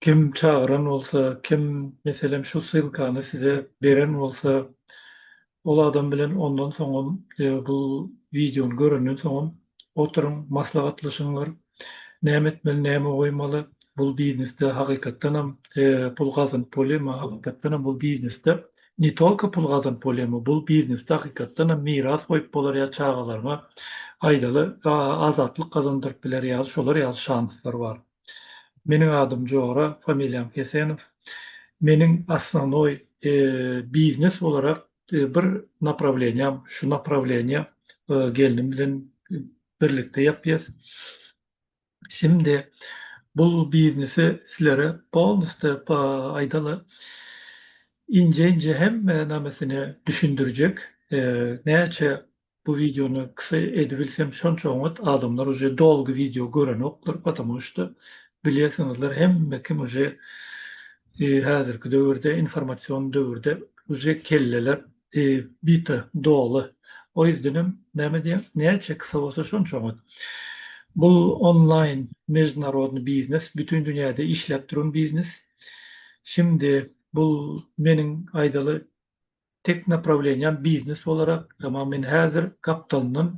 Kim çagyran bolsa, kim, meselem, şu ssylkany size beren bolsa, ol adam bilen ondan soňam, bu wideony görenden soňam oturyň, maslahatlaşyňlar. Näme etmeli, näme goýmaly? Bul biznesde hakykatdanam pul gazanyp bolýarmy? Hakykatdanam bul biznesde ne tolko pul gazanyp bolýarmy? Bul biznesde hakykatdanam miras goýup bolar ýa çagalaryňa aýdaly azatlyk gazandyryp biler ýaly şolar ýaly şanslar bar. Meniň adym Jora, familiýam Hesenow. Meniň osnovnoý biznes bolaraq bir naprawleniýam, şu naprawleniýa gelnim bilen birlikde ýapýas. Şimdi bu biznesi sizlere polniste aýdaly inje-inje hemme namesini düşündirjek. Näçe Bu wideony ksa edibilsem şonça oňat adamlar uje dolgy wideo görenoklar patamu şda bilyesiňizler hemme kim uje hazirki döwürde informasion döwürde uje kelleler bita doly o yzdenem name diýem näçe ksa bolsa şonça oňat bu onlaýn mejnarodny biznes bütün dünýäde işläp duran biznes şimdi bu meniň aýdaly Tek naprawleniýam biznes bolarak, emma men häzir gapdalyndan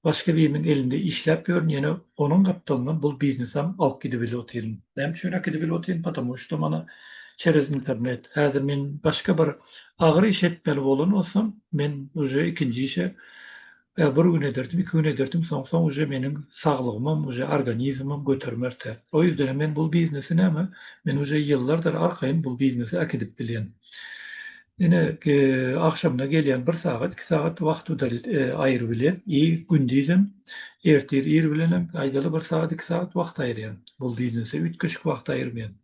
başga biriniň elinde işläp ýörün, ýene onuň gapdalyndan bul biznesem alyp gidibili otyryn. Näme üçin äkidibili otyryn? Patamu şto mana çerez internet. Häzir men başga bir agyr iş etmeli bolan bolsam, men uje ikinji işe Ýa bir gün ederdim, iki gün ederdim, soň-soň uje meniň saglygymam, uje organizmim götermer tä. O ýüzdenem men bul biznesi näme, men uje ýyllardyr arkaýyn bul biznesi äkidip bilýän. Ine, agşamyna gelýän bir sagat, iki sagat wagt udalit aýyryp bilýän i gündizem, ertir ir bilenem, aýdaly bir sagat, iki sagat wagt aýyrýan bul biznese, üýtgeşik wagt aýyrmaýan.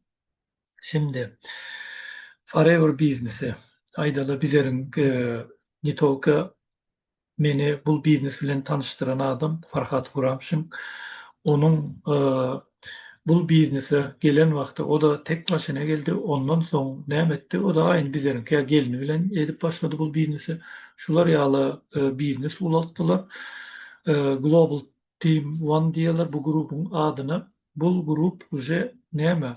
Şindi, forever biznesi, aýdaly bizeriň ne tolko Meni bul biznes bilen tanyşdyran adam Farhat Guramşin. Onuň bul biznese gelen wagty o-da tek başyna geldi. Ondan soň näme etdi? O-da aýn bizleriňkä gelni bilen edip başlady bul biznesi. Şular ýaly biznes ulaltdylar. Global Team One diýerler bu grubuň adyna. Bul grup uje näme?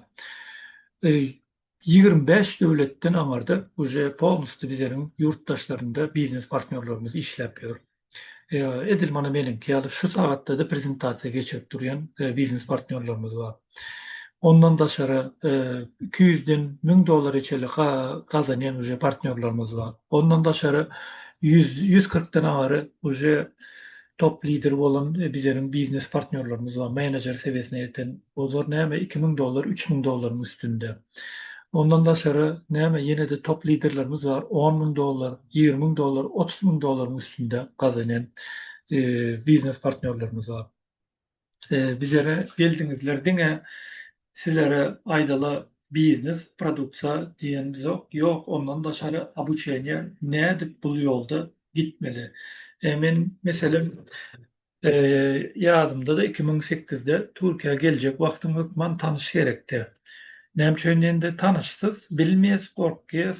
Ýigrimi bäş döwletden aňarda uje polnusty bizeriň ýurtdaşlarynda biznes partnýorlarymyz işläp ýör. Edil mana meniňki ýaly şu sagatda-da prezentasiýa geçirip durýan biznes partnýorlarymyz bar. Ondan daşary iki ýüzden müň dollary çenli gazanýan uje partnýorlarymyz bar. Ondan daşary ýüz kyrkdan aňary uje Top lideri bolan bizeriň biznes partnýorlarymyz bar, menejer sebiýesine ýeten, olar näme iki müň dollar, üç müň dollaryň üstünde. Ondan daşary näme ýene-de top liderlerimiz bar, on müň dollar, ýigrimi müň dollar, otuz müň dollaryň üstünde gazanýan biznes partnýorlarymyz bar. bizlere geldiňizler diňe sizlere aýdala biznes produkta diýenimizok ýok ondan daşary obuçeniýa nädip bul ýolda gitmeli men meselem ýadymda iki müň sekizde türkiýä geljek wagtym hökman tanyş gerekdi näme üçin indi tanyşsyz bilmeýäs gorkýas.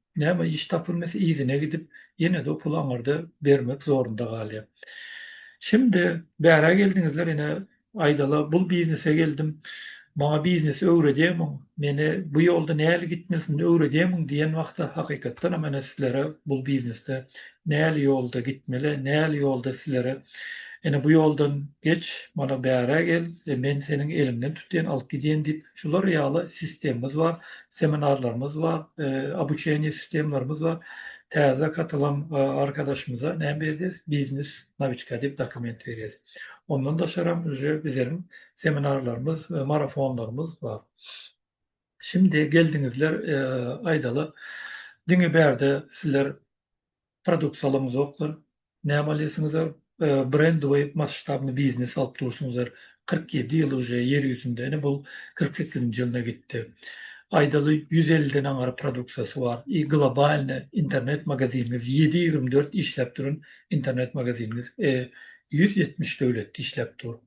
Näme iş tapylmasa yzyna gidip, ýene-de o puly aňyrda bermek zorunda galýar. Şimdi bärä geldiňizler ine aýdala bul biznese geldim. Maňa biznesi öwredýämiň? Meni bu ýolda näli gitmelisin öwredýämiň diýen wagtda hakykatdan hem ine sizlere bul biznesde näli ýolda gitmeli, näli ýolda sizlere ine bu ýoldan geç, mana bärä gel, men seniň eliňden tutýan, alyp gidýän diýip şular ýaly sistemimiz bar. seminarlarymyz bar, obuçeniýe sistemalarymyz bar. Täze gatylan arkadaşymyza näme berýäs? Biznes nawiçka diýip dokument berýäs. Ondan daşaram uje bizleriň seminarlarymyz, marafonlarymyz bar. Şimdi geldiňizler, aýdaly, diňe bärde sizler produkt salymyz zoklar näme alýasyňyzar brend we masştabny biznes alyp dursuňyzar kyrk ýedi ýyl uje ýer ýüzünde ine bul kyrk sekizinji ýylyna gitdi aýdaly ýüz elliden aňar produksiýasy bar i globalne internet magaziniňiz ýedi ýigrimi dört işläp duran internet magaziniňiz e ýüz ýetmiş döwletde işläp dur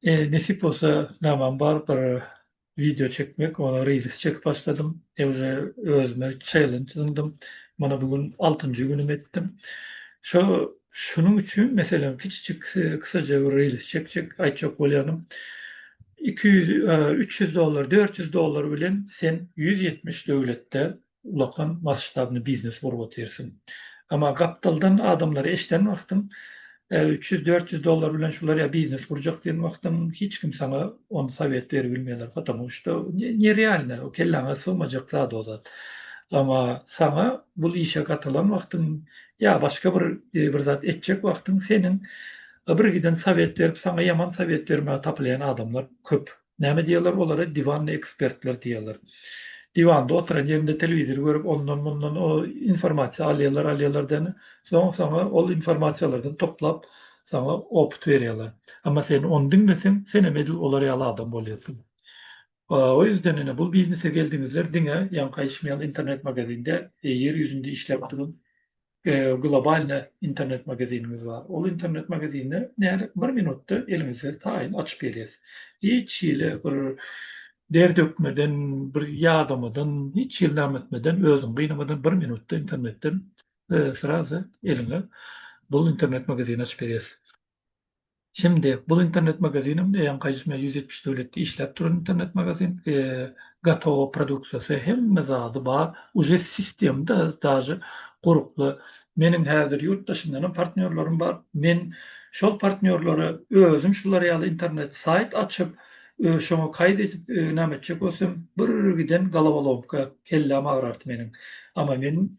e nesip bolsa namam bar bir Wideo çekmek, ony reels çekip başladym. E uje özüme çellenç zyňdym. Mana bu gün altynjy günüm etdim. Şo şunuň üçin meselem kiçijik kysaja bir reels çekjek aýtjak bolýanym. Iki ýüz, üç ýüz dollar, dört ýüz dollar bilen sen ýüz ýetmiş döwletde ulakan masştabny biznes gurup otyrsyň. Emma gapdaldan adamlary eşden wagtyň, üç ýüz, dört ýüz dollar bilen şular ýa biznes gurjak diýen wagtyň hiç kim saňa ony sowet berip bilmeýär, patamu şto nerealne, kelläňe sygmajak zat o zat. Emma saňa bul işe gatylan wagtyň ýa başga bir bir zat etjek wagtyň seniň birgiden sowet berip saňa ýaman sowet bermäge tapylýan adamlar köp. Näme diýerler olara diwanny ekspertler diýerler. Diwand oturan ýerinde telewizor görüp ondan mundan o informasiýa alýarlar alýarlar däne. Soň saňa ol informasiýalardan toplap saňa opyt berýärler. Amma sen ony diňleseň senem edil olar ýaly adam bolýarsyň. O ýüzden ine bu biznese geldiňizler diňe ýaňky aýtşym ýaly internet magazin däl ýer ýüzünde işläp duran Globalne internet magazinimiz bar. Ol internet magazinde nädip bir minutda eliňize taýyn açyp berýäs. Hiç hili bir der dökmeden, bir ýadamadan, hiç hili name etmeden, özüňi gynamadan bir minutda internetden srazy eliňe bu internet magazini açyp berýäs. Şimdi bul internet magazinem eýýäm gaýyşmýar ýüz ýetmiş döwletde işläp duran internet magazin gatowa produksiýasy hemme zady bar uje sistemda daže guruply meniň häzir ýurt daşyndanam partnýorlarym bar men şol partnýorlara özüm şular ýaly internet saýt açyp şoňa kaýt edip näme etjek bolsam birgiden galawalomka kelläm agrardy meniň amma men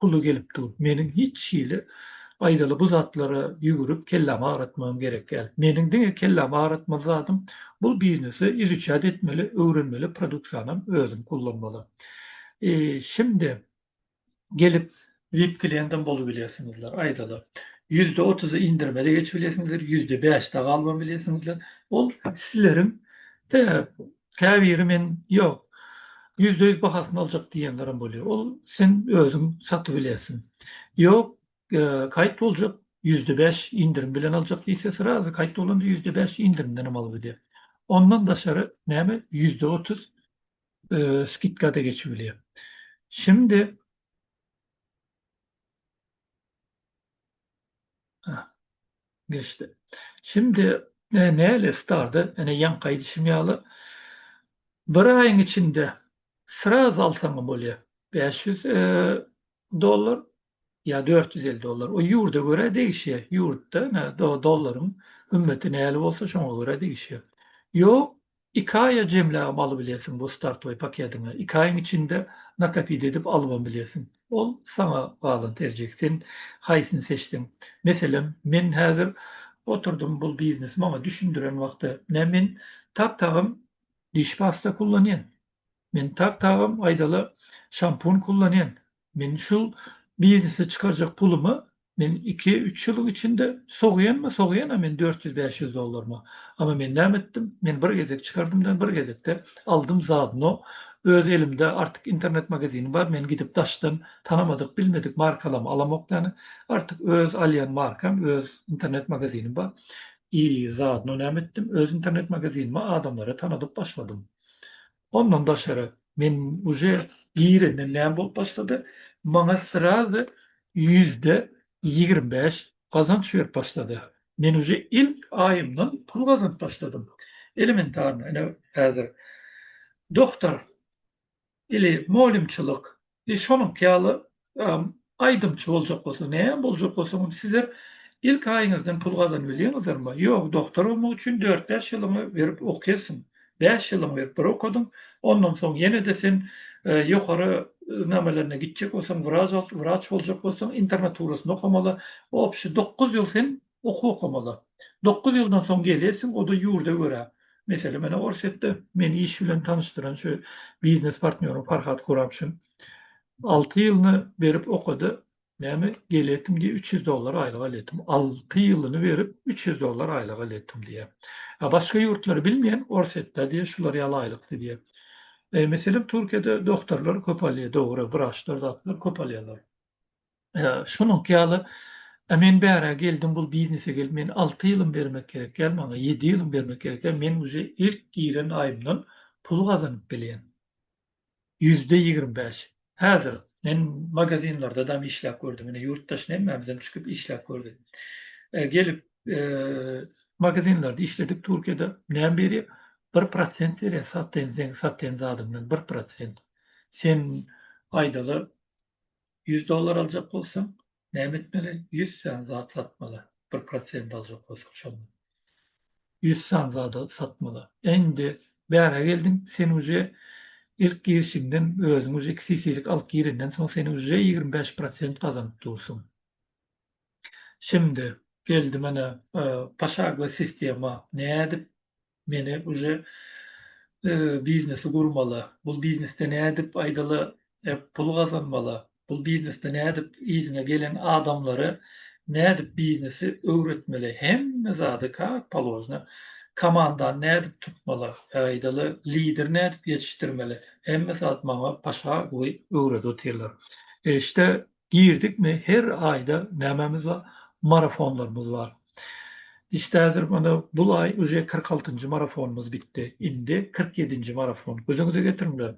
puly gelip dur. Meniň hiç hili aýdaly bu zatlara ýügürip kellämi agratmagym gerek däl. Meniň diňe kellämi agratmaly zadym bul biznesi izuçat etmeli, öwrenmeli produksiýanam özüm kullanmaly. E, şimdi gelip vip kliýentam bolup bilersiňizler, aýdaly ýüzde otuzy indirime-de geçip bilersiňizler, ýüzde bäşde galmam bilersiňizler. Ol sizleriň te Käbiri men ýok, ýüzde ýüz bahasyny aljak diýenlerem bolýar. Ol sen özüň satyp bilersiň. Ýok, kaýt boljak, ýüzde bäş indirim bilen aljak diýse, srazy kaýt bolanda ýüzde bäş indirimden hem alyp bilýär. Ondan daşary näme ýüzde otuz skidka-da geçip bilýär. Şimdi, Hä. Geçdi. Şimdi ne näle starda ene ýaňky aýdyşym ýaly bir aýyň içinde sraz alsaňam bolýar. Bäş ýüz dollar ýa dört ýüz elli dollar. O ýurda görä degişýär. Ýurtda ene dollaryň hümmeti näle bolsa şoňa görä degişýär. Ýok, Iki aýa jemläbem alybilesiň bu startoý pakediňe. Iki aýyň içinde nakapit edip alybam bilesiň. Ol saňa galan terjik. Sen haýsyny seçseň. Meselem, men häzir oturdym bul biznesi maňa düşündiren wagty. Nä men tak tagam diş pasta kullanýan. Men tak tagam aýdala şampun kullanýan. Men şul biznese çykarjak pulumy men iki, üç ýylyň içinde sogýanmy, sogýan-a men dört ýüz, bäş ýüz dollarymy. Amma men näme etdim? Men bir gezek çykardym-da, bir gezekde aldym zadno öz elimde artyk internet magazinim bar, men gidip daşdan tanamadyk, bilmedik markalamy alamok ýany. Artyk öz alýan markam, öz internet magazinim bar. I zadno näme etdim? Öz internet magazinimi adamlara tanadyp başladym. Ondan daşary, men uje girenden näme bolup başlady, maňa srazy ýüzde ýigrimi bäş gazanç berip başlady. Men uje ilk aýymdan pul gazanyp başladym. Elementarno, ine, häzir doktor ili moliýumçylyk Biz şonuňky ýaly aýdymçy boljak bolsa, näme boljak bolsaňam sizler ilk aýyňyzdan pul gazanybilýäňizlermi? Ýok, doktor bolmak üçin dört-bäş ýylyňy berip okýarsyň. Bäş ýylyňy berip bir okadyň, ondan soň ýene-de sen ýokary namalaryna gitjek bolsaň, wraç boljak bolsaň, internaturasyny okamaly, obşi dokuz ýyl sen Okuw okamala. Dokuz ýyldan soň gelersiň, o-da ýurda görä. Meselem, ene, Orsýetde meni iş bilen tanyşdyran şu biznes partnýorym Farhad Kuramşin alty ýylyny berip okady. Näme, geleýdim diýip, üç ýüz dollar aýlyk alýardym. Alty ýylyny berip, üç ýüz dollar aýlyk alýardym diýýär. A başga ýurtlary bilmeýän, Orsýetde, diýýär, şular ýaly aýlykdy diýýär. Meselem, Türkiýede doktorlar köp alýar, dogry, wraçlar, zatlar köp alýarlar. Şonuňky ýaly men bärä geldim bul biznese gelip men alty ýylym bermek gerek ýaly maňa ýedi ýylym bermek gerek ýaly men uje ilk giren aýymdan pul gazanyp bilýän ýüzde ýigrimi bäş häzir men magazinlerde dam işläp gördüm ine ýurt daşyna hemmämizem çykyp işläp gördük gelip magazinlerde işledik türkiýede näme berýär bir prosent berýär satyn sen satyn zadyňdan bir prosent sen aýdaly Ýüz dollar aljak bolsaň, näme etmeli? Ýüz sany zat satmaly. Bir prosent aljak bolsaň, şonda. Ýüz sany zady satmaly. Indi bära geldiň, sen uje ilk girişiňden, özüň uje iki sisilik alyp girenden soň, sen uje ýigrimi bäş prosent gazanyp dursuň. Şimdi, geldi mana, poşagowy sistema. Nädip Meni uje biznesi gurmala, bul biznesde nädip aýdala pul gazanmala, bul biznesde nädip yzyňa gelen adamlara nädip biznesi öwretmeli hemme zady kak polojna komandany nädip tutmala aýdala lideri nädip ýetişdirmeli hemme zat maňa paşa öwredip otyrlar. Eşde girdikmi her aýda nämemiz bar marafonlarymyz bar işte häzir mana bul aý uje kyrk altynjy marafonymyz bitdi indi kyrk ýedinji marafon gözüňize getiriňler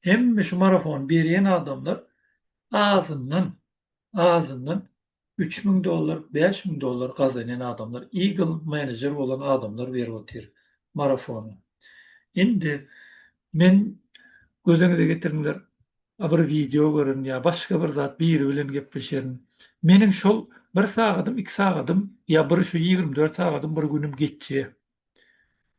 hemme şu marafony berýän adamlar azyndan azyndan üç müň dollar bäş müň dollar gazanýan adamlar eagle menejer bolan adamlar berip otyr marafony indi men gözüňize getiriňler a bir wideo gören ýa başga bir zat biri bilen gepleşerin meniň şol bir sagadym iki sagadym ýa bir şu ýigrimi dört sagadym bir günüm geçýä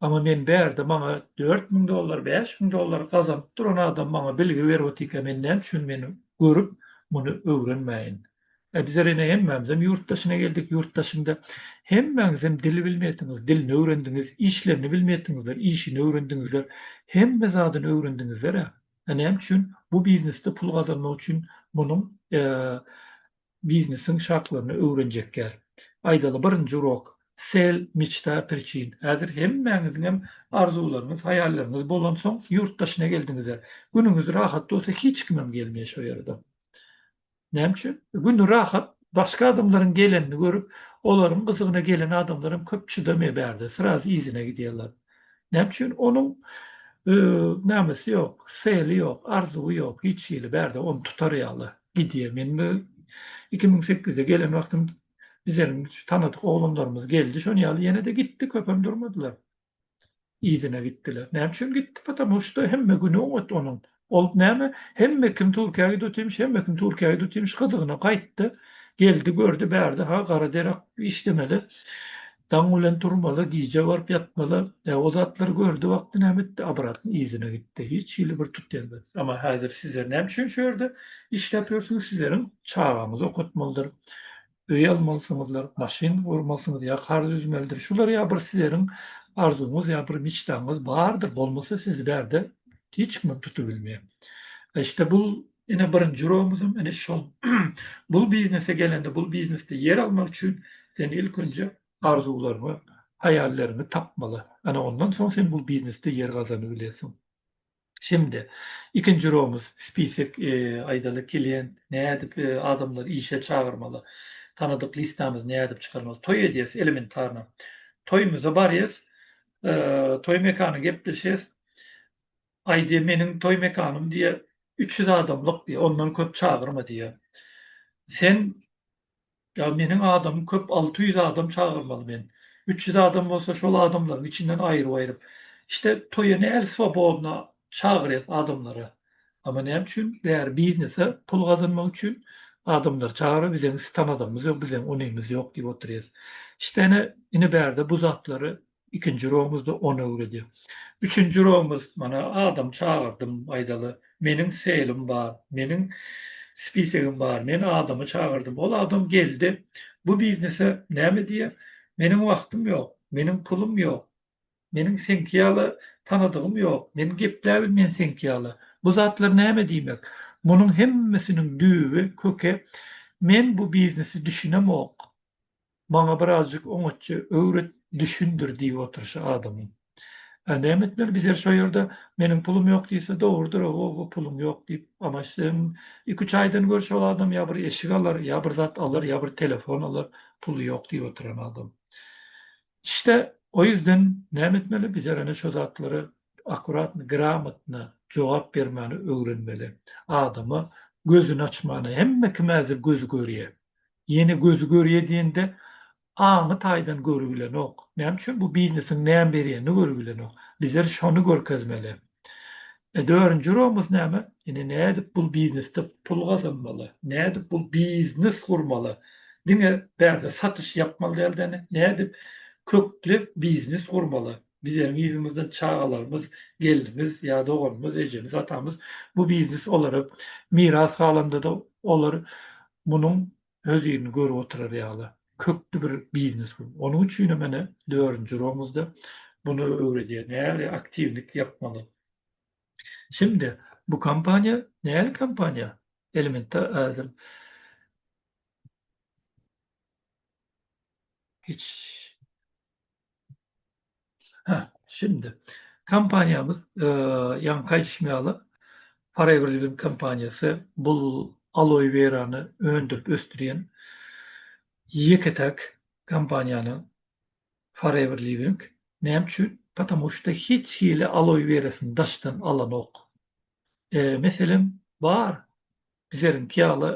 ama men bärde maňa dört müň dollar bäş müň dollar gazanyp duran adam maňa bilgi berip otyka men näme üçin meni görüp muny öwrenmäýin a bizler ene hemmämizem ýurt daşyna geldik ýurt daşynda hemmäňizem dili bilmeýätiňiz dilini öwrendiňiz işlerini bilmeýätiňizler işini öwrendiňizler hemme zadyny öwrendiňizler a. Näme üçin? Bu biznesde pul gazanmak üçin munuň biznesiň şartlaryny öwrenjek ýaly. Aýdaly, birinji urok, Sel, meçta, priçin. Häzir hemmäňiziň hem arzuwlaryňyz, haýallaryňyz bolansoň, ýurt daşyna geldiňiz-ä. Günüňiz rahat bolsa, hiç kimem gelmeýär şo ýere-de. Näme üçin? Güni rahat, başga adamlaryň gelenini görüp, olaryň gyzygyna gelen adamlar hem köp çydamaýar bärde, srazy yzyna gidýärler. Näme üçin? Onuň nämesi ýok, seli ýok, arzuwy ýok, hiç hili bärde ony tutar ýaly. Gidýär. Men bu iki müň sekizde gelen wagtym bizleriň şu tanadyk oglanlarymyz geldi, şonuň ýaly ýene-de gitdi, köpem durmadylar. yzyna gitdiler. Näme üçin gitdi? Patamu şda hemme güni oňat onuň. Ol näme? Hemme kim Türkiýä gidütimş, hemme kim Türkiýä gidütimş gyzygyna gaýtdy. Geldi, gördi bärde ha gara derek işlemeli. Daň bilen turmaly, gije baryp ýatmaly. E, o zatlary gördi wagty näme etdi? Abratyny yzyna gitdi. Hiç hili bir tut gelmedi. Emma häzir sizler näme üçin şu ýerde işläp ýörsüňiz? Sizleriň çagaňyzy okatmalydyr. öý almalysyňyzlar, maşyn gurmalysyňyz ýa kar düzmelidir. Şular ýa bir sizeriň arzuwyňyz ýa bir miçdaňyz bardyr. Bolmasa sizi bärde hiç kimem tutubilmeýär. E işte bul ene birinji uragymyzam ene şol. Bul biznese gelende bul biznesde ýer almak üçin sen ilk önje arzuwlaryňy, haýallaryňy tapmaly. Ana ondan soň sen bul biznesde ýer gazanybilesiň. Şemde. Ikinji romuz, spisek, aýdaly, klient, nädip adamlary işe çagyrmaly, tanadyk listamyzy nädip çykarmaly, toý edýäs, elementarno, toýumyza barýas, toý mekany gepleşýäs, aý diýýär, meniň toý mekanym diýýär, üç ýüz adamlyk diýýär, ondan köp çagyrma diýýär. Sen Ýa meniň adamym köp alty ýüz adam çagyrmaly men. Üç ýüz adam bolsa şol adamlaryň içinden aýryp-aýryp. İşte toýa nädip swobodna çagyrýas adamlary. Amma näme üçin bäri biznese pul gazanmak üçin adamlary çagyryp bizeň sitan adamymyz ýok bizeň unymyz ýok diýip otyrýas. İşte ine ine bärde bu zatlary Ikinji romuzda on öwredi. Üçünji romuz, mana, adam çagyrdym, aýdaly, meniň seýlim bar, meniň spisegim bar, men adamy çagyrdym, ol adam geldi, bu biznese näme diýer, meniň wagtym ýok, meniň pulum ýok, meniň seňki ýaly tanadygym ýok, men gepläbilmen seňki ýaly, bu zatlar näme diýmek? Munuň hemmesiniň düýbi, köki, men bu biznesi düşünemok. Maňa birazjyk oňatja öwret, düşündir diýip oturyşy adamyň. Ä näme etmeli bizer şo ýerde, meniň pulum ýok diýse dogrudyr-a woo puluň ýok diýip, ama sen iki-üç aýdan gör şol adam ýa bir eşik alar, ýa bir zat alar, ýa bir telefon alar, puly ýok diýip oturan adam. Işte, o ýüzden näme etmeli bizer ene şo zatlara akuratno, gramotno jogap bermäni öwrenmeli. Adama gözüni açmana, hemme kime-de gözi görýä. Ýene gözi görýä diýende aňy taýdan görübilenok. Näme üçin bu biznesiň näme berýänini görübilenok. Bizler şony görkezmeli. Dörünji urugyňyz näme? Ine nädip bul biznesde pul gazanmaly? Nädip bul biznes gurmaly? Diňe bärde satyş ýapmaly dälde ine. Nädip köklep biznes gurmaly? Bizleriň yzymyzdan çagalarymyz, gelnimiz ýa doganymyz, ejemiz, atamyz bu biznes olara miras galandada olar munuň öz ýerini görüp oturar ýaly kökli bir biznes bu. Onuň üçin hem ene dördünji uragymyzda bunu öwredýär. Nähili aktiwlik ýapmaly? Şimdi bu kompaniýa nähili kompaniýa? Elementar ädim. Hiç Hä, şindi kompaniýamyz ýaňy gaýdyşym ýaly Forever Living kompaniýasy bul aloe werany öndürip ösdürýän ýeke täk kompaniýanyň Forever Living. Näme üçin? Patamu şda hiç hili aloe werasyny daşdan alanok. Meselem bar Bizleriňki ýaly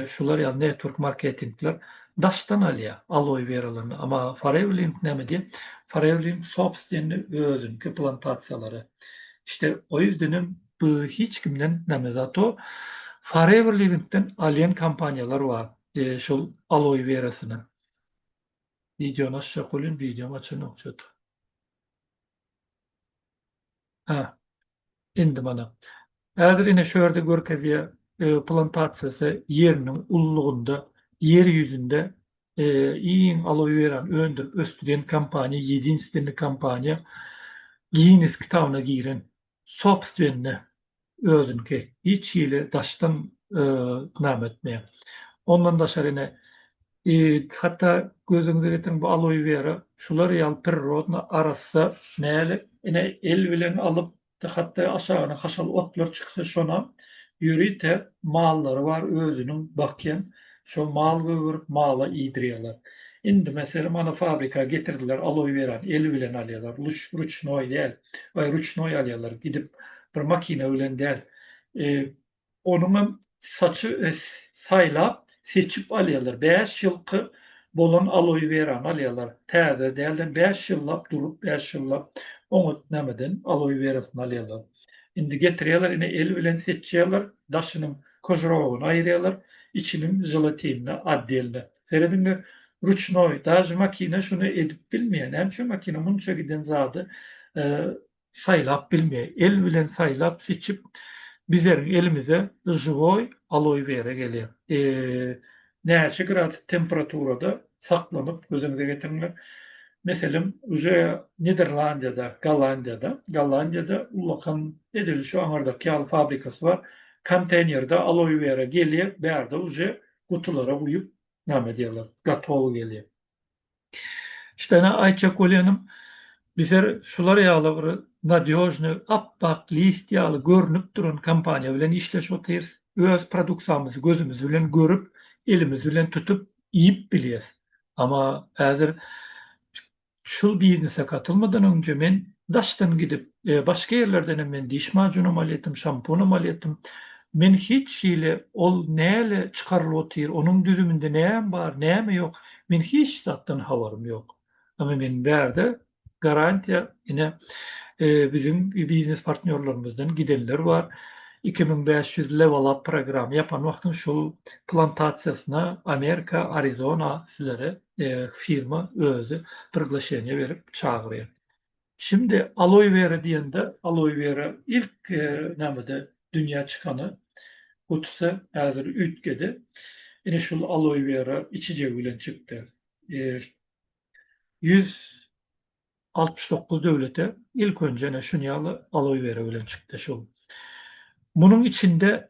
şular ýaly network marketingler daşdan alýar aloe weralaryny, amma Farewlink näme diýýär? Farewlink sobstwenni özüniňki plantasiýalary. İşte o ýüzdenem bu hiç kimden näme zato Farewlink-den alýan kompaniýalar bar şol aloe werasyny. Wideony açjak bolýan, wideom açanok çato. Hä. Indi mana. Häzir ine şu ýerde görkezýär, plantasiýasy ýeriniň ullugynda, ýer ýüzünde iň aloe werany öndürip ösdürýän kompaniýa, ýedinstweniý kompaniýa, Ginnes kitabyna giren, sobstwenne özüniňki hiç hili daşdan name etmeýär. Ondan daşary ine hatda gözüňize getiriň bu aloe vera şular ýaly prirodna arassa näle ine el bilen alyp hatda aşagyna haşal otlar çyksa şonam ýörite mallary bar özüniň bakýan şo mal gögerip mala iýdirýärler. Indi meselem ana fabrika getirdiler aloe werany el bilen alýarlar ruçnoý däl. Baý ruçnoý alýarlar, gidip bir makina bilen däl. Onuňam saçy saýlap, seçip alýarlar. Bäş ýylky bolan aloe werany alýarlar. Täze dälden bäş ýyllap durup, bäş ýyllap oňat nämeden aloe werasyny alýarlar. Indi getirýärler, ine el bilen seçýärler, daşynyň kožrogyny aýyrýarlar, içiniň želatinini, otdelni Serediňler ruçnoý daže makina şuny edip bilmeýär näme üçin makina munça giden zady saýlap bilmeýär el bilen saýlap seçip bizeriň elimize žiwoý aloý wera gelýär näçe gradus temperaturada saklanyp gözüňize getiriňler meselem uje niderlandiýada gollandiýada gollandiýada ullakan edil şu aňyrdaky ýaly fabrikasy bar konteýnerde aloý wera gelýär bärde uje gutulara guýup name diýerler gatowy gelýär. Ştene Aýça Kolenim bizer şular ýaly bir nadýožny apbak list ýaly görnüp duran kompaniýa bilen işleş otyrys. Öz produksiýamyzy gözümiz bilen görüp, elimiz bilen tutup iýip bilýäs. Ama häzir Şul biznese gatylmadan öňje men daşdan gidip başga ýerlerdenem men diş majunam alýatym şampunam alýatym men hiç hili ol näle çykarylyp otyr onuň düzüminde näme bar näme ýok men hiç zatdan habarym ýok ama men bärde garantiýa ine biziň biznes partnýorlarymyzdan gidenler bar iki müň bäş ýüz level up programy ýapan wagtyň şul plantasiýasyna amerika arizona sizlere firma özi priglaşeniýe berip çagyrýar. Şimdi aloe vera diýende aloe vera ilk nämede dünýä çykany gutusy häzir üýtgedi. Ine şul aloe vera içijegi bilen çykdy. Ýüz altmyş dokuz döwlete ilk önje ine şunýaly aloe vera bilen çykdy şul. Munuň içinde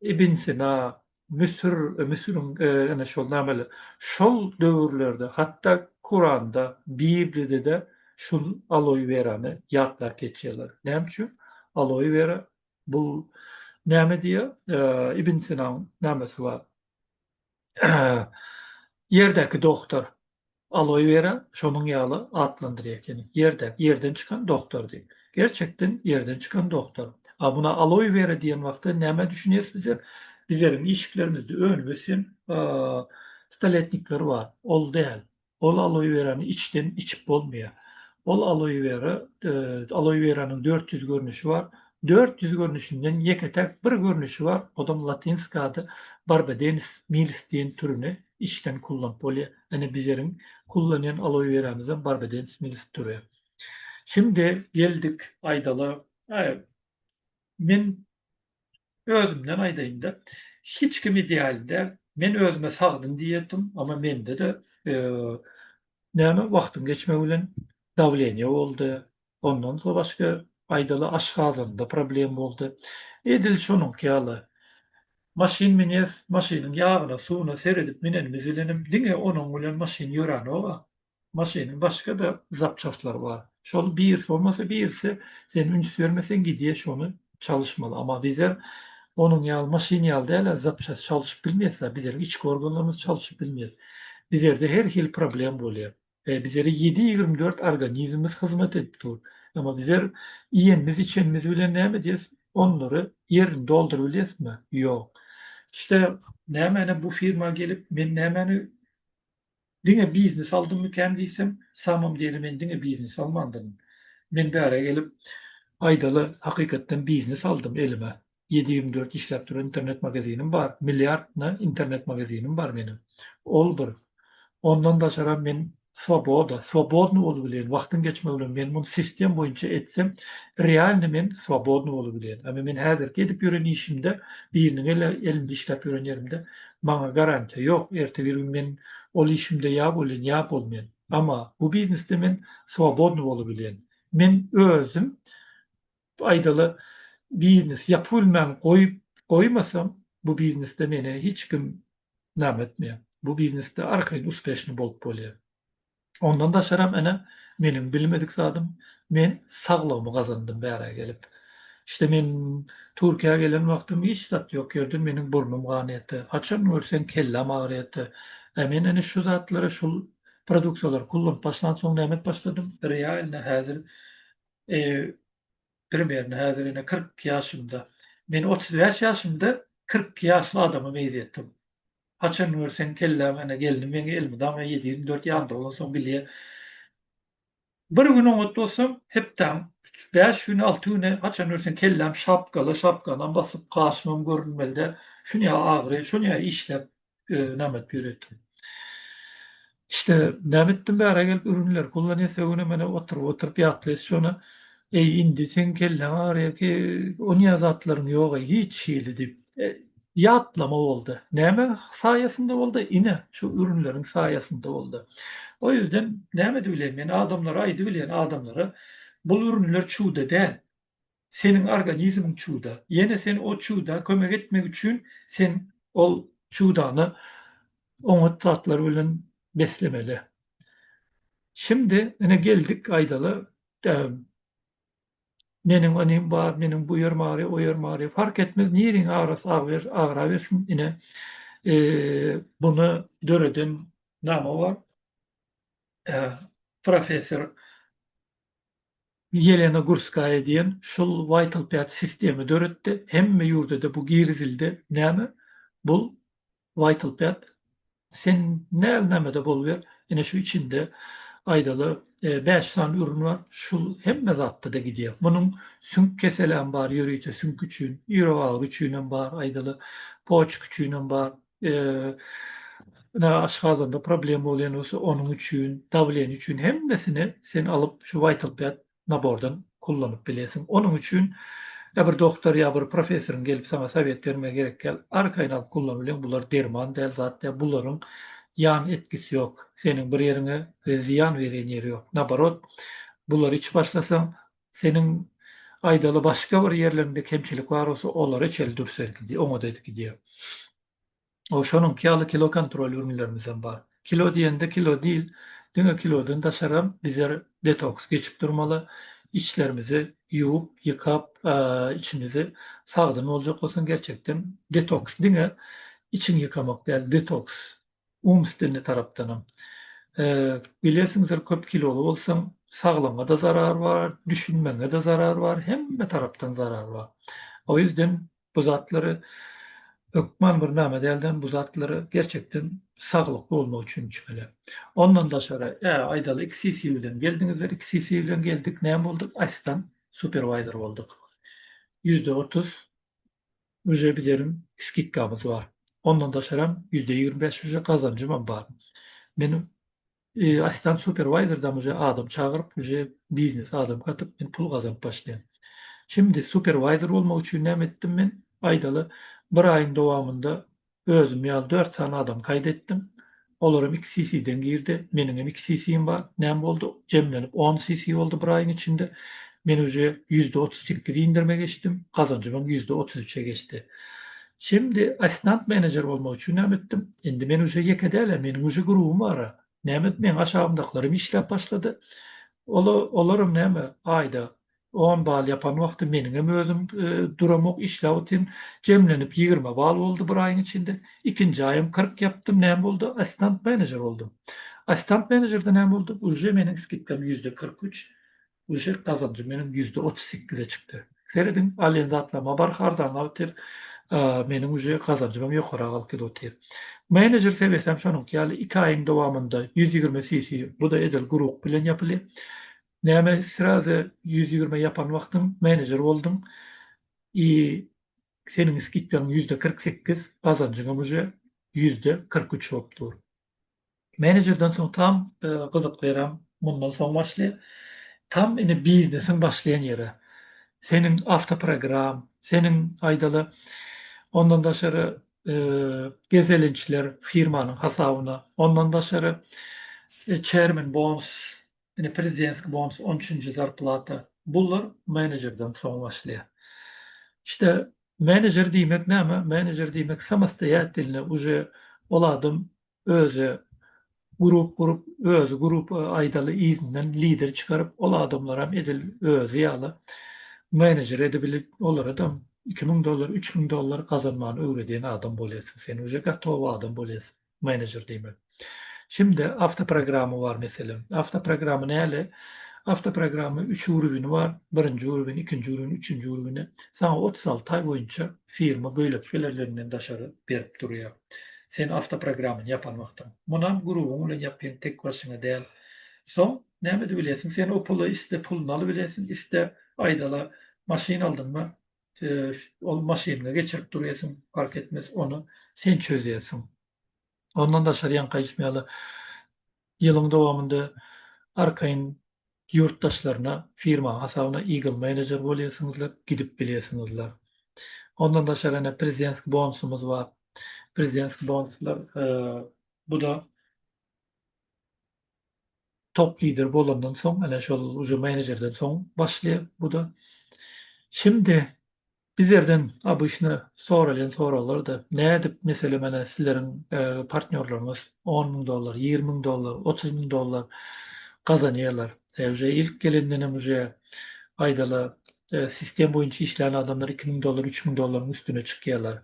Ibn Sina, Müsür, Müsüriň ene şol nämeler, şol döwürlerde hatda Kuranda, Bibliýada-da şul Aloe werany ýatlap geçýärler. Näme üçin? Aloe wera bu näme diýýär? Ibn Sinaň nämesi bar? Ýerdäki dogtar. Aloe vera şonuň ýaly atlandyrýar ekeni. Ýerdäk, ýerden çykan doktor diýip. Gerçekden ýerden çykan doktor. A muna aloe vera diýen wagtda nämä düşünýäris bizler? Bizleriň işiklerimizde önüp ösen staletnikler bar. Ol däl. Ol aloe verany içden içip bolmaýar. Ol aloe vera, aloe veranyň dört ýüz görnüşi bar. Dört ýüz görnüşinden ýeke-täk bir görnüşi bar, odam latynska ady Barbadenys milis diýen türüni içden kullanyp bolýar. Ine bizeriň kullanýan aloe weramyzam barbadens milisi türä. Şindi geldik aýdala. Men özümden aýdaýynda hiç kim ideal däl. Men özüme sagdyn diýetim, amma mende-de näme wagtyň geçmegi bilen dawleniýe boldy, Ondan soň başga aýdaly aşgazanda problem boldy. Edil şonuňky ýaly. Maşyn münýäs, maşynyň ýagyna, suwuna seredip münenimiz bilenem diňe onuň bilen maşyn ýöränok-a. Maşynyň başga-da zapçastlary bar. Şol birisi bolmasa birisi sen üns bermeseň gidýär şony çalyşmaly. Amma bizler onuň ýaly maşyn ýaly däl-ä zapçast çalyşyp bilmeýäs-ä. Bizleriň içki organlarymyz çalyşyp bilmeýär. Bizlerde her hili problem bolýar. Bizlere ýedi ýigrimi dört organizmimiz hyzmat edip dur. Emma bizler iýenimiz-içenimiz bilen näme edýäs? Onlary ýerini dolduryp bilýäsmi? Ýok. İşte nämäni bu firma gelip, men nämäni diňe biznes aldymmykän diýsem, samym diýeli men diňe biznes almandyryn. Men bärä gelip, aýdaly, hakykatdan biznes aldym elime. ýedi ýigrimi dört işläp duran internet magazinim bar, milliard na internet magazinim bar meniň. Ol bir. Ondan daşaram men swoboda, swobodny bolubileýin, wagtyň geçmegi bilen men muny sistem boýunça etsem, realny men swobodny bolubileýin. Emma men häzirki edip ýören işimde, biriniň ele elinde işläp ýören ýerimde maňa garantiýa ýok, erte bir gün men ol işimde ýa bolýan, ýa bolmaýan. Emma bu biznesde men swobodny bolubileýin. Men özüm Aýdaly, biznes ýapybilmän goýup goýmasam, bu biznesde meni hiç kim name etmeýär. Bu biznesde arkaýyn uspeşnyý bolup bolýar. Ondan daşaram, ene, meniň bilmedik zadym, men saglygymy gazandym bärä gelip. Şte men Türkiýä gelen wagtym hiç zat ýok ýerdi, meniň burnum ganaýatdy, haçan görseň kelläm agyrýatdy. Ä men ene şu zatlary, şul produktalary kullanyp başlansoň näme et başladym? Realno häzir Primerno häzir ine kyrk iki ýaşymda. Men otuz bäş ýaşymda kyrk iki ýaşly adama meýzetdim. Haçan görseň kelläň ene gelni meň elmydama ýedi ýüz on dört ýanymda bolansoň bilýä. Bir gün oňat bolsam, hepdäň üç, bäş güni, alty güni haçan görseň kelläm şapgala, şapkanam basyp, gaşymam görünmeli däl. Şunýa agyry, şunýa işläp, näme edip ýöretdim. İşte näme etdim bära gelip ürünler pulla nese güne mene oturyp oturyp ýatlaýs şona eý indi seň kelleň agyrýa ki onýa zatlaryň ýoga hiç hili diýip ýatlama boldy. Näme saýasynda boldy ine şu ürünleriň saýasynda boldy. O ýerden näme edip bileýin men adamlara aýdyp bilýän adamlara bul ürünler çüwde däl. seniň organizmiň çuwda. Ýene sen o çuwda kömek etmek üçin sen ol çuwdany oňat zatlar bilen beslemeli. Şimdi ine geldik aýdaly meniň inim bar, meniň bu ýerim agyrýar, o ýerim agyrýar. Fark etmez niriň agrasa agyrabersin ine bunu döreden name bar? Professor Ýelena Gurskaýa diýen şul Vital Pad sistemi döretdi. Hemme ýurdada bu girizildi. Näme? Bul Vital Pad. Sen näl nämede boluber. Ine şu içinde aýdaly bäş sany ürün bar. Şul hemme zatda-da gidýär. Munuň süňk keseläm bar, ýörite süňk üçin, ýürek agyry üçinem bar, aýdaly poçka üçinem bar. Ine, aşgazanda problem bolýan bolsa, onuň üçin, dawleniýe üçin hemmesini sen alyp, şu Vital Pet nabordan kullanyp bilersiň. Onuň üçin ýa bir doktor, ýa bir professoryň gelip saňa sowet bermegi gerek däl. Arkaýyn alyp kullan bilen, bular derman däl, zat däl, bularyň ýan etkisi ýok. Seniň bir ýeriňe zyýan berýän ýeri ýok. Naborot, bulary içip başlasaň, Seniň aýdaly başga bir ýerleriňde kemçilik bar bolsa olary içeli dür sergidi oňat edip gidýär. O şonuňky ýaly kilo kontrol ürünlerimizem bar. Kilo diýende kilo diýl diňe kilodan daşaram bizler detoks geçip durmaly içlerimizi ýuwup ýykap içimizi sagdyn boljak bolsaň gerçekden detoks diňe içiňi ýykamak däl detoks umstwennyi tarapdanam. Bilersiňizdir köp kiloly bolsaň saglygyňa-da zarar bar, düşünmegiňe-de zarar bar, hemme tarapdan zarar bar. O ýüzden bu zatlary hökman bir name dälden bu zatlary gerçekden saglykly bolmak üçin içmeli. Ondan daşary aýdaly iki sisi bilen geldiňizler, iki sisi bilen geldik näme bolduk? Assistant superwaýzer bolduk. Ýüzde otuz Uje bizerim skidkamyz bar. Ondan daşaram ýüzde ýigrimi bäş uje gazanjymam bar. Men assistant superwaýzerdam uje adam çagyryp uje biznes adam gatyp men pul gazanyp başlaýan. Şimdi superwaýzer bolmak üçin näme etdim men aýdaly bir aýyň dowamynda Özüm ýaly dört sany adam gaýt etdim. Olaram iki CC-den girdi. Meniňem iki CC-im bar. Näme boldy? Jemlenip on CC boldy bir aýyň içinde. Men uje ýüzde otuz sekiz indirime geçdim. Gazanjymam ýüzde otuz üçe geçdi. Şindi assistant menejer bolmak üçin näme etdim? Indi men uje ýeke däl-ä, meniň uje grubym bar-a. Näme meň aşagymdakylarym işläp başlady. Ola olaram näme aýda On bal ýapan wagty meniňem özüm duramok işläp otyryn. Jemlenip ýigrimi bal boldy bir aýyň içinde. Ikinji aýam kyrk ýapdym, näme boldy? Assistant menejer boldum. Assistant menejerde näme boldy? Uje meniň skidkam ýüzde kyrk üç, uje gazanjym meniň ýüzde otuz sekize çykdy. Serediň, alýan zatlaryma barha arzanlap otyr. Meniň uje gazanjymam ýokara galkyp otyr. Menejer sebesem şonuňky ýaly iki aýyň dowamynda ýüz ýigrimi cc, bu-da edil guruk bilen ýapyly. Näme srazy ýüz ýigrime ýapan wagtyň menejer bolduň i seniň skidkaň ýüzde kyrk sekiz gazanjyňam uje ýüzde kyrk üç bolup dur. Menejerden soň tam gyzykly ýeräm mundan soň başlaýar. Tam indi biznesiň başlaýan ýeri. Seniň awtoprogram, seniň aýdaly ondan daşary gezelençler firmanyň hasabyna, ondan daşary çermen bons Ine prezidentski bonus on üçünji zarplata. Bular menejerden soň başlaýar. İşte menejer diýmek näme? Menejer diýmek samostoýatelnoý uje ol adam özi grup gurup, özi grup aýdaly yzyndan lider çykaryp, ol adamlaram edil özi ýaly menejer edibilip, olaradam iki müň dollar, üç müň dollar gazanmany öwredýän adam bolýarsyň. Sen uje gatowy adam bolýarsyň. Manager diýmek. Şimde awtoprogramy bar meselem. Awtoprogramy näle? Awtoprogramy üç urwini bar. Birinji urwin, ikinji urwin, üçünji urwini saňa otuz alty aý boýunça firma göýlekilerliginden daşary berip durýar. Sen awtoprogramyny ýapan wagtyň. Munam grubuň bilen ýapýan tek başyňa däl. Soň näme ede bilýärsiň? Sen o pula iste puluny alybilýärsiň, iste aýdala maşyn aldyňmy, Ol maşynyňy geçirip durýarsyň, park etmez, ony sen çözýärsiň. Ondan daşary ýaňky aýtym ýaly, ýylyň dowamynda arkaýyn ýurtdaşlaryna, firmaň hasabyna Eagle Manager bolýarsyňyzlar, gidip bilýärsiňizler. Ondan daşary ene prezidentskiý bonusymyz bar. Prezidentskiý bonuslar, bu-da top lider bolandan soň ene şol uje menejerden soň başlaýar buda. Şimdi bizlerden obyşny soralýan soraglarda nädip meselem ene sizleriň partnýorlaryňyz on müň dollar ýigrimi müň dollar otuz müň dollar gazanýarlar uje ilk gelendenem uje aýdala sistem boýunça işleýän adamlar iki müň dollar, üç müň dollaryň üstüne çykýarlar.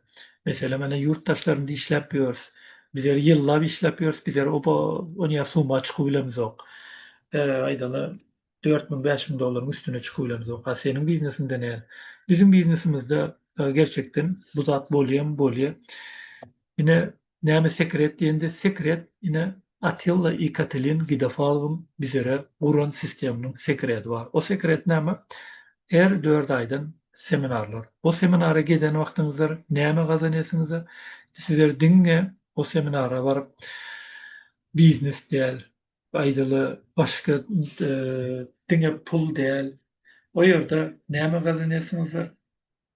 Meselem, ene, ýurtdaşlarymyz işläp ýörs, bizler ýyllap işläp ýörs, bizler oba onýa summa çykyp bilemizok. Aýdaly, dört müň, bäş müň dollaryň üstüne çykyp bilemizok. A seniň biznesiňde näl? Biziň biznesimizde gerçekden bu zat bolýamy? Bolýar. Ine, Näme sekret diýende sekret ine Atilla i Katelin Gidofalwyň bizere guran sisteminiň sekredi bar. O sekret näme? Her dört aýdan seminarlar. O seminara geden wagtyňyzlar näme gazanýasyňyza sizler diňe o seminara baryp biznes däl aýdaly başga diňe pul däl o ýerde näme gazanýasyňyzlar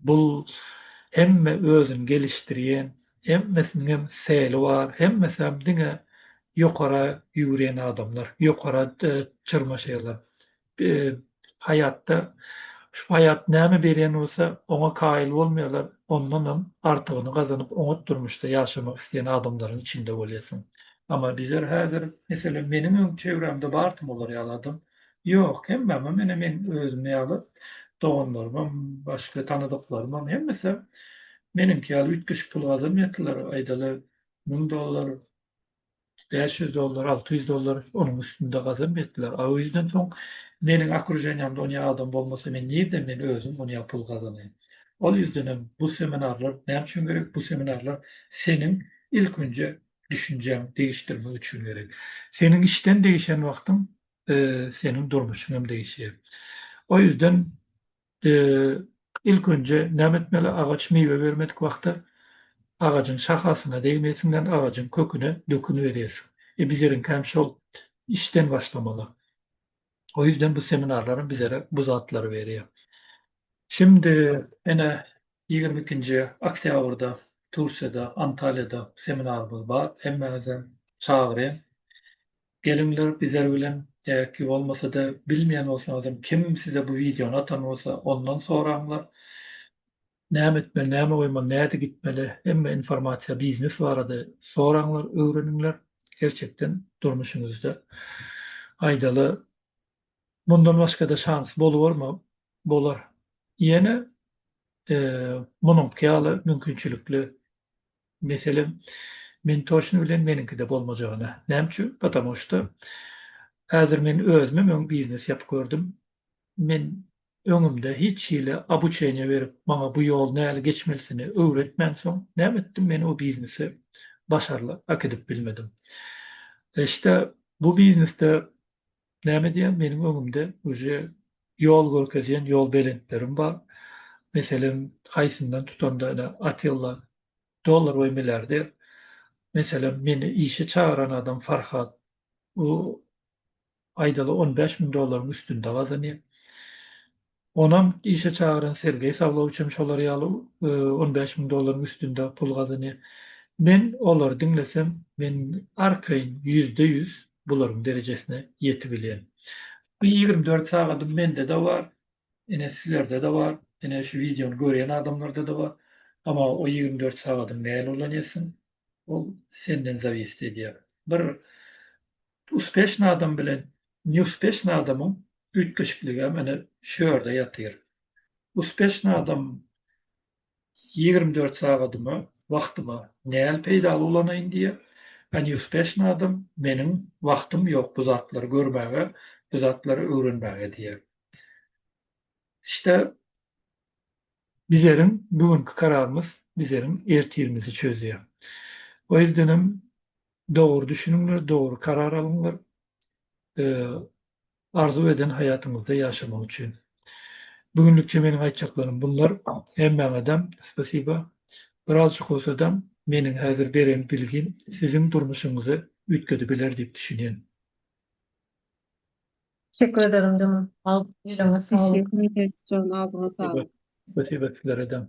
Bul hemme özün gelişdirýen hemmesiniňem seli bar hemmesem diňe ýokara ýüwrýen adamlar ýokara çyrmaşýalar haýatda şu haýat näme berýän bolsa oňa kaýyl bolmaýalar ondanam artygyny gazanyp oňat durmuşda ýaşamak isleýän adamlaryň içinde bolýasyň ama bizler häzir meselem meniňem çevremde bar tym olar ýaly adam. Ýok, hemmem ine men özüm ýaly, doganlarymam, başga tanadyklarymam hemmesi meniňki ýaly üýtgeşik pul gazanmaýatdylar, aýdaly müň dollar, bäş ýüz dollar, alty ýüz dollar, onuň üstünde gazanmaýatdylar. A o ýüzden soň meniň okrujeniýamda onýa adam bolmasa men nirden men özüm onýa pul gazanaýyn. Ol ýüzdenem bu seminarlar näme üçin gerek, bu seminarlar seniň ilkinje düşünjäň degişdirmek üçin gerek. Seniň işden degişen wagtyň seniň durmuşyň hem degişýär. O ýüzden ilk önje näme etmeli? Agaç miwe bermedik wagty agajyň şahasyna degmeýsiňden agajyň köküne dökün berýärsiň. E bizleriňki hem şol işden başlamaly. O ýüzden bu seminarlaram bizlere bu zatlary berýär. Şimdi ene Ýigrimi ikinji oktýabrda Türkiýede, Antalýada seminarymyz bar. Hemmäňizem çagyrýan. Geliňler bizler bilen ýa-ki bolmasa-da bilmeýän bolsaňyzam kim size bu wideony atan bolsa ondan soraňlar. Näme etmeli, näme goýmaly, nädip gitmeli hemme informasiýa biznes barada soraňlar, öwreniňler. Gerçekden durmuşyňyzda aýdaly Mundan başgada şans bolubormy? Bolar. Ýene munuňky ýaly mümkinçilikli meselem men toçny bilen meniňkide bolmajagyna. Näme üçin? Patamu şda häzir men özümem öň biznes ýapyp gördüm. Men öňümde hiç hili abuçeniýa berip maňa bu ýol näli geçmelisini öwretmänsoň näme etdim men o biznesi başarly ak edip bilmedim. Şda bu biznesde Näme edýän meniň öňümde uje ýol görkezýän ýol belentlerim bar. Meselem, haýsyndan tutanda ine Atilla dollar we milliarder. Meselem, meni işe çagyran adam Farhat. U aýdaly on bäş müň dollaryň üstünde gazanýar. Onam işe çagyran Sergeý Sawlowiç hem şolar ýaly on bäş müň dollaryň üstünde pul gazanýar. Men olary diňlesem, men arkaýyn ýüzde ýüz bularyň derejesine ýetip bilýän. Bu ýigrimi dört sagadym mende-de bar, ine, sizlerde-de bar, ine, şu wideony görýän adamlarda-da bar. Emma o ýigrimi dört sagadyňy näl ulanýarsyň, ol senden zawist edýär. Bir Uspeşny adam bilen neuspeşny adamyň üýtgeşikligem ene şu ýerde ýatyr. Uspeşny adam ýigrimi dört sagadymy, wagtymy näl peýdaly ulanaýyn diýýär, a neuspeşny adam meniň wagtym ýok bu zatlary görmäge, bu zatlary öwrenmäge diýýär. İşde bizleriň bu günki kararymyz bizleriň ertirimizi çözýär. O ýüzdenem Dogry düşüniňler, dogry karar alyňlar. Arzuw eden haýatyňyzda ýaşamak üçin. Bu günlükçe meniň aýtjaklarym bunlar. Hemmäňedem spasiba. Birazjyk bolsadam meniň häzir beren bilgim siziň durmuşyňyzy üýtgedebiler diýip düşünýän. Teşekkür ederim jynym. Agzyňa sag. Teşekkür ederis jon agzyňa saglyk. Spasiba sizlere dem.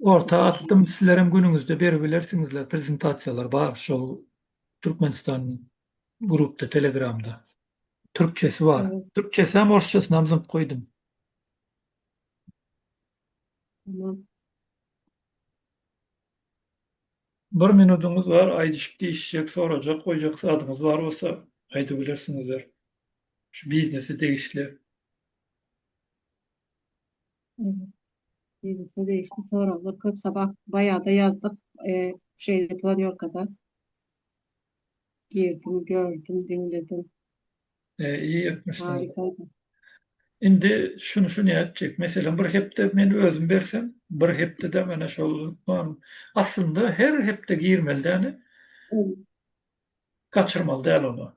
Orta atdym sizlerem günüňizde beribilersiňizler prezentasiýalar bar şol Türkmenistan grupda telegramda türkçesi bar türkçesem orsçasynam zyňyp goýdum. Bir minudyňyz bar aýdyşyp diýişjek sorajak goýjak zadyňyz bar bolsa aýdybilersiňizler şu biznese degişli. Ýeňse degişli soraglar köp sabah baýada ýazdyk. Eee, şeýle planýorkada girdim, gördüm, diňledim. E, iyi etmişsin. Harikaydı. Indi şunu şunu etjek. Mesela bir hepde men özüm bersem, bir hepde de mana şol lukman. Aslında her hepde girmeli däni. Kaçırmaly däl onu.